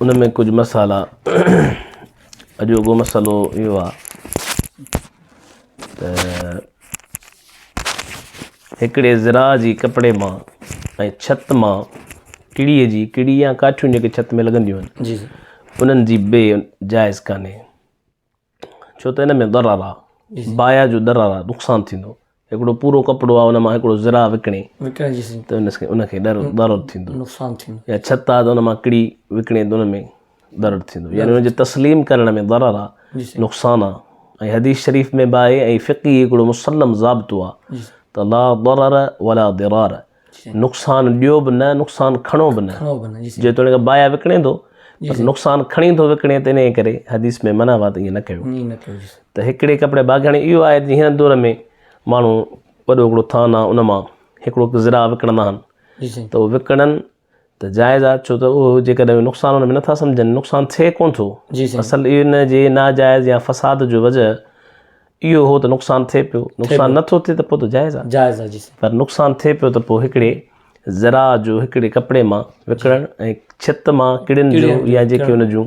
ان ۾ ڪجهه مسئلا اڄوڪو مسئلو اهو آهي ته هڪڙي ذرا جي ڪپڙي مان ۽ ڇت مان ڪڙي جي ڪڙي يا ڪاٺيون جيڪي ڇت ۾ لڳنديون آهن انهن جي بي جائز ڪانهي ڇو ته ان ۾ ضرر آ بايا جو ضرر آ نقصان ٿيندو هڪڙو پورو ڪپڙو آ ان مان هڪڙو ذراع وڪڻي وڪڻي جي سھي ته ان کي ان کي ڏر ضرر ٿيندو نقصان ٿيندو يا ڇت آ ته ان مان ڪڙي وڪڻي ته ان ۾ ضرر ٿيندو يعني ان جي تسليم ڪرڻ ۾ ضرر آ جي سھي نقصان آ ۽ حديث شريف ۾ به آهي ۽ فقهي هڪڙو مسلم ضابطو آ جي سھي ته لا ضرر ولا ضرار نقصان ڏيو به نه نقصان کڻو به نه جيتوڻيڪ بايا وڪڻي ٿو پر نقصان کڻي ٿو وڪڻي ته انهي ڪري حديث ۾ منع وات ائين نه ڪيو ته هڪڙي ڪپڙي باغياڻي اهو آهي ته هن دور ۾ ماڻهو وڏو هڪڙو ٿان آهي ان مان هڪڙو ذرا وڪڻندا آهن ته وڪڻن ته جائز آ ڇو ته اهو جيڪڏهن نقصان ان ۾ نٿا سمجهن نقصان ٿئي ڪونه ٿو اصل ان جي ناجائز يا فساد جو وجه اهو هو ته نقصان ٿئي پيو نقصان نٿو ٿئي ته پوء ته جائز آ جائز آ جي پر نقصان ٿئي پيو ته پوء هڪڙي ذرا جو هڪڙي ڪپڙي مان وڪڙڻ ۽ ڇت مان ڪڙين جو يا جيڪي ان جون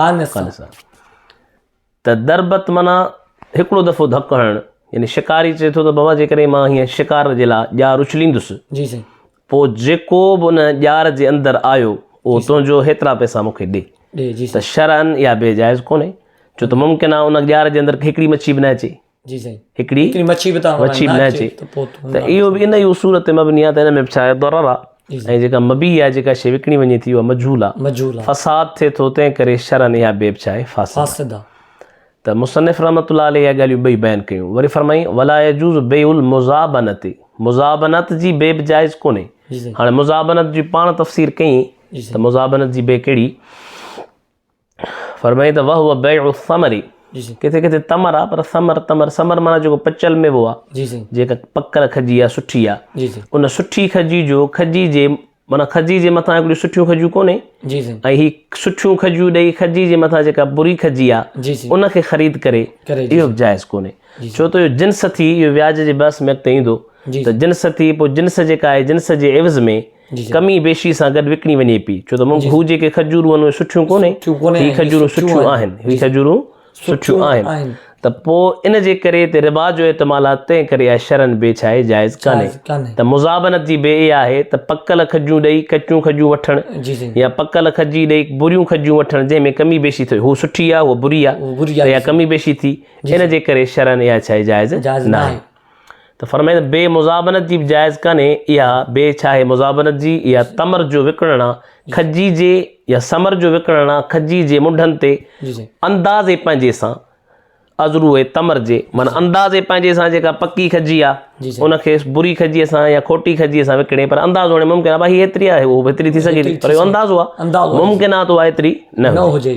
خالصه خالصه ته دربت معنيٰ هڪڙو دفعو ڌڪ هڻڻ يعني شڪاري چئي ٿو ته بابا جيڪڏهن مان هيئن شڪار جي لاء ڄار اڇليندس جي سائين پوء جيڪو به ان ڄار جي اندر آيو اهو جي سائين تنهنجو هيترا پئسا مون کي ڏي ڏي جي ته سائين شرعن اها بي جائز ڪونهي ڇو ته ممڪن آهي ان ڄار جي اندر هڪڙي مڇي به نه اچي جي سائين هڪڙي هڪڙي مڇي به تان مڇي نه اچي ته پوء ته اهو به ان جي اصول تي مبني آهي ته ان ۾ به ڇا ضرر آهي ۽ جيڪا مبي آهي جيڪا شيء وڪڻي وڃي ٿي اها مجهول آهي مجهول آهي فساد ٿئي ٿو تنهن ڪري شرعن اها بي به ڇا آهي فاسد فاسد آهي ته مصنف رحمت الله عليه اها ڳالهيون ٻئي بيان ڪيون وري فرمائي ولا يجوز بيع المزابنت مزابنت جي بي به جائز ڪونهي هاڻي مزابنت جي پاڻ تفسير ڪئين ته مزابنت جي بي ڪهڙي فرمائي ته وهو بيع الثمر جي سائين ڪٿي ڪٿي تمر آ پر ثمر تمر ثمر معنی جيڪو پچل ميوو آ جي سائين جيڪا پڪل کجي آ سٺي آ جي سائين ان سٺي کجي جو کجي جي معنی کجي جي مٿان هڪڙي سٺيون کجيون ڪونهي جي سائين ۽ هي سٺيون کجيون ڏيئي کجي جي مٿان جيڪا بري کجي آ جي سائين ان کي خريد ڪري ڪري جي اهو سائين جائز ڪونهي جي ڇو سائين ته اهو جنس ٿي اهو وياج جي بحث ۾ اڳتي ايندو جي ته سائين جنس ٿي پوء جنس جيڪا آهي جنس جي عوض ۾ ڪمي بيشي سان گڏ وڪڻي وڃي پئي ڇو ته هو جيڪي کجورون آهن اهي سٺيون ڪونهي هي کجورون سٺيون آهن هي کجورون سٺيون آهن ته پوء ان جي ڪري هتي ربا جو احتمال آهي تنهن ڪري اها شرعن بي ڇا آهي جائز ڪانهي ته مزابنت جي بي اها آهي ته پڪل کجون ڏئي ڪچيون کجون وٺڻ يا پڪل کجي ڏئي بريون کجون وٺڻ جنهن ۾ ڪمي بيشي ٿئي هو سٺي آهي هو بري آهي ته اها ڪمي بيشي ٿي ان جي ڪري شرعن اها ڇا آهي جائز ناهي ته فرمائي ته بي مزابنت جي به جائز ڪانهي اها بي ڇا آهي مزابنت جي اها تمر جو وڪڻڻ آ کجي جي يا سمر جو وڪڻڻ آ کجي جي منڍن تي اندازي پنهنجي سان ازرو تمر جي من اندازي پنهنجي سان جيڪا پڪي کجي آ ان کي بري کجي سان يا کٽي کجي سان وڪڻي پر اندازو هاڻي ممڪن آ بھي هيتري آ هو هيتري ٿي سگهي ٿي پر اندازو آ ممڪن آ ته هيتري نه هجي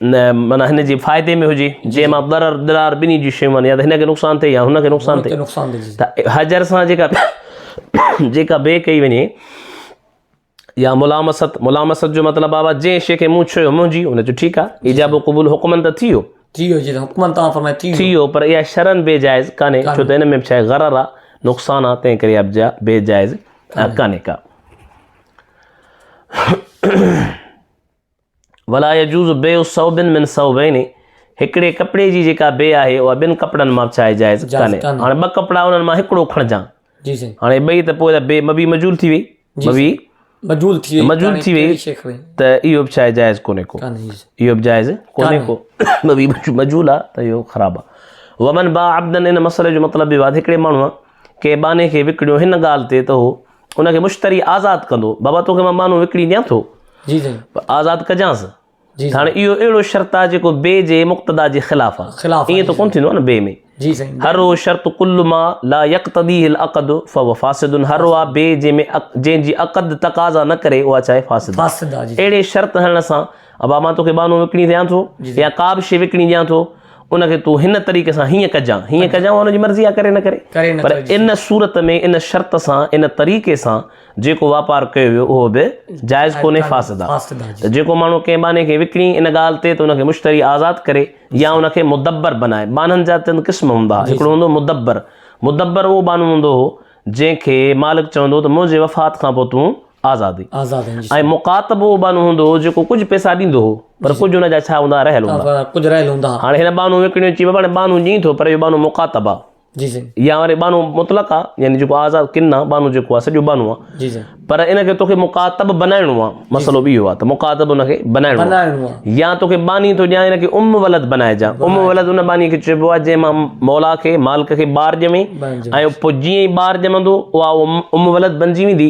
نه معنيٰ هن جي فائدي ۾ هجي جنهن مان ضرر ضرار ٻنهي جون شيون آهن يا ته هن کي نقصان ٿئي يا هن کي نقصان ٿئي نقصان ٿئي ته حجر سان جيڪا جيڪا بي ڪئي وڃي يا ملامست ملامست جو مطلب آ جنهن شيء کي مون ڇهيو منهنجي ان جو ٺيڪ آهي ايجاب و قبول حڪمن ته ٿي ويو ٿي ويو جي حڪمن تان فرمائي ٿي ٿي ويو پر اها شرن بي جائز ڪانهي ڇو ته ان ۾ ڇا غرر آ نقصان آ تنهن ڪري ابجا بي جائز ڪانهي ڪا ولا يجوز بيع ثوب من ثوبين هڪڙي ڪپڙي جي جيڪا بيع آهي اها ٻن ڪپڙن مان به چاهي جائز ڪانهي هاڻي ٻه ڪپڙا انهن مان هڪڙو کڻجان جي سائين هاڻي ٻئي ته پوء بيع مبيع مجهول ٿي وئي مبيع مجهول ٿي وئي مجهول ٿي وئي ته اهو به چاهي جائز ڪونهي ڪو اهو به جائز ڪونهي ڪو مبيع مجهول آ ته اهو خراب آ ومن با عبدن ان مسئلي جو مطلب به هڪڙي ماڻهو ڪنهن ٻانهي کي وڪڻيو هن ڳالهه تي ته هو ان کي مشتري آزاد ڪندو. بابا توکي مان مانو وڪڻي ڏيان ٿو. جي سائين. پر آزاد ڪجانس. جي سائين. هاڻي اهو اهڙو شرط آهي جيڪو بيع جي مقتضيٰ جي خلاف آهي. خلاف آهي. ائين ته ڪونه ٿيندو آهي نه بيع ۾. جي سائين. هرو شرط ڪل ما لا يقتضيه العقد فهو فاسد هرو آهي بيع جنهن ۾ جنهن جي عقد تقاضا نه ڪري اها ڇا آهي فاسد آهي. فاسد آهي جي. اهڙي شرط هڻڻ سان ابا مان توکي ٻانهو وڪڻي ڏيان ٿو يا ڪا به شيء وڪڻي ڏيان ٿو، ان کي تون هن طريقي سان هيئن ڪجان، هيئن ڪجان اها هن جي مرضي آهي ڪري نه ڪري. پر ان صورت ۾ ان شرط سان ان طريقي سان جيڪو واپار ڪيو ويو اهو به جائز ڪونهي فاسد آهي. ته جيڪو ماڻهو ڪنهن ٻانهي کي وڪڻي ان ڳالهه تي ته ان کي مشتري آزاد ڪري يا ان کي مدبر بنائي. ٻانهن جا چند قسم هوندا هئا، هڪڙو هوندو هو مدبر، مدبر اهو ٻانهو هوندو هو جنهن کي مالڪ چوندو هو ته منهنجي وفات کان پوء تون آزادي ۽ مڪاتبو بانو هوندو هو جيڪو ڪجهه پئسا ڏيندو هو پر ڪجهه ان جا ڇا هوندا هئا رهيل هوندا ڪجهه رهيل هوندا هئا هاڻي هن بانو وڪڻيو چي بابا بانو ڏئين ٿو پر اهو بانو مڪاتب آ جي سائين يا وري بانو مطلق آ يعني جيڪو آزاد ڪن آ بانو جيڪو آ سڄو بانو آ جي سائين پر ان کي توکي مڪاتب بنائڻو آ مسئلو به اهو آ ته مڪاتب ان کي بنائڻو آ بنائڻو آ يا توکي باني ٿو ڏيان ان کي ام ولد بنائجا ام ولد ان باني کي چئبو آ جنهن مان مولا کي مالڪ کي ٻار ڄمي ۽ پوء جيئن ئي ٻار ڄمندو اها ام ولد بنجي ويندي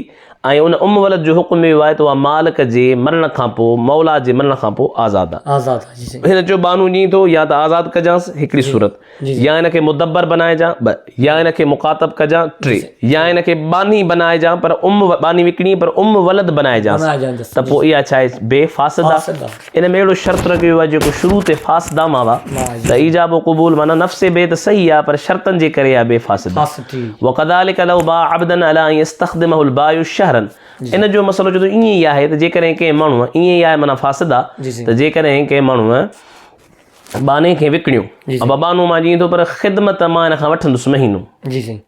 ۽ ان ام ولد جو حڪم به اهو آهي ته اها مالڪ جي مرڻ کان پوء، مولا جي مرڻ کان پوء آزاد آهي. آزاد آهي، جي سائين. هن چيو بانو جي ٿو يا ته آزاد ڪجانس، هڪڙي جي، صورت، جي سائين. يا هن کي مدبر بنائجان، ٻه، يا هن کي مخاطب ڪجان، جي ٽي، سائين. يا هن کي باني بنائجان پر ام، باني وڪڻي پر ام ولد بنائجانس، بنائجانس، ته جي پوء سائين. اها ڇا آهي بي فاسده؟ فاسده. ان ۾ اهڙو شرط رکيو ويو آهي جيڪو شروع تي فاسد آ معنيٰ ته ايجاب و قبول معنيٰ نفس بيع ته صحيح آ پر شرطن جي ڪري اها بيع فاسد آ وڪذلک لو باع عبدا علي ان يستخدمه البائع شهرا ان جو مسئلو چوي ٿو ائين ئي آهي ته جيڪڏهن ڪنهن ماڻهو ائين ئي آهي معنيٰ فاسد آ ته جيڪڏهن ڪنهن ماڻهو ٻانهي کي وڪڻيو ابا ٻانهو مان جيئن ٿو پر خدمت مان هن کان وٺندس مهينو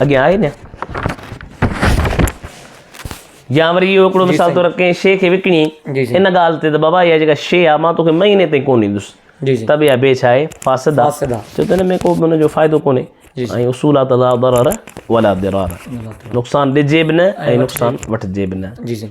اڳيان آهي نه يا وري اهو هڪڙو مثال طور ڪنهن شي کي وڪڻي ان ڳالهه تي ته بابا اها جيڪا شي آهي مان توکي مهيني تائين ڪونه ڏيندس جي جي تبي ابي چاهي فاسد فاسد جو تن ۾ کو بن جو فائدو ڪوني جي جي اصول آ تلا ضرر ولا ضرر نقصان دي جيب نه اي نقصان وٺ جيب نه جي جي